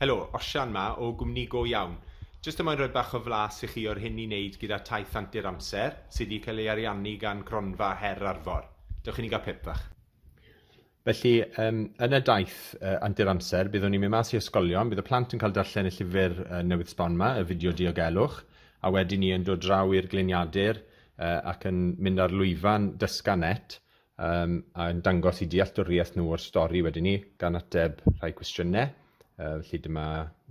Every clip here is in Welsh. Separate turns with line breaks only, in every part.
Helo, Osian 'ma o gwmni go iawn. Jyst y moyn rhoi bach o flas i chi o'r hyn i wneud gyda taith antur amser, sy' 'di cael ei ariannu gan Gronfa Her Arfor. Dewch i ni gael pip bach. Felly, yym, yn y daith yy antur amser, byddwn ni'n mynd mas i ysgolion, bydd y plant yn cael darllen y llyfr yy newydd sbon 'ma, y fideo diogelwch, a wedyn ni yn dod draw i'r gliniadur yy ac yn mynd ar lwyfan Dysga Net, um, a yn dangos i dealltwriaeth nhw o'r stori wedyn ni, gan ateb rhai cwestiynau. Uh, felly dyma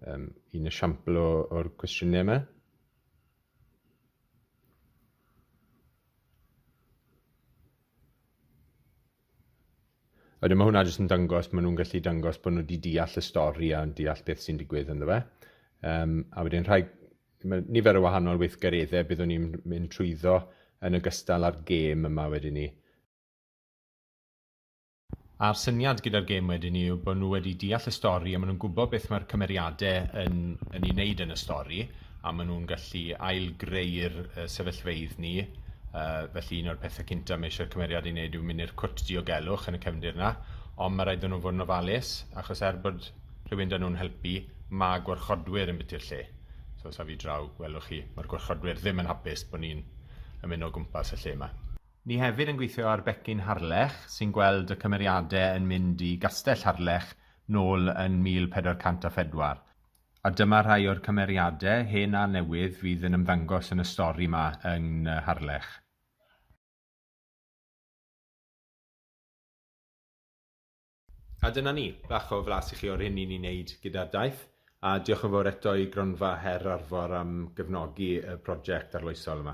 um, un esiampl o'r cwestiynau yma. Wedyn mae hwnna jyst yn dangos, maen nhw'n gallu dangos bod nhw wedi deall y stori a'n deall beth sy'n digwydd ynddo fe. Um, a wedyn rhai Mae nifer o wahanol weithgareddau byddwn ni'n mynd trwyddo yn ogystal â'r gêm yma wedyn 'ny. A'r syniad gyda'r gêm wedyn 'ny yw bod nhw wedi deall y stori a maen nhw'n gwybod beth mae'r cymeriadau yn yn ei wneud yn y stori a maen nhw'n gallu ail-greu'r yy sefyllfeydd ni. Yy felly un o'r pethau cynta mae eisiau'r cymeriad ei wneud yw mynd i'r cwt diogelwch yn y cefndir 'na ond ma' raid iddyn nhw fod yn ofalus achos er bod rhywun 'da nhw'n helpu, ma' gwarchodwyr yn biti'r lle. So os afi draw, gwelwch chi, mae'r gwarchodwyr ddim yn hapus bod ni'n ymuno o gwmpas y lle yma. Ni hefyd yn gweithio ar Becyn Harlech sy'n gweld y cymeriadau yn mynd i Gastell Harlech nôl yn 1404. A dyma rhai o'r cymeriadau, hen a newydd, fydd yn ymddangos yn y stori 'ma yng Ngwne Harlech. A dyna ni, bach o flas i chi o'r hyn ni'n ei wneud gyda'r daith, a diolch yn fawr eto i Gronfa Her Arfor am gefnogi y project arloesol yma.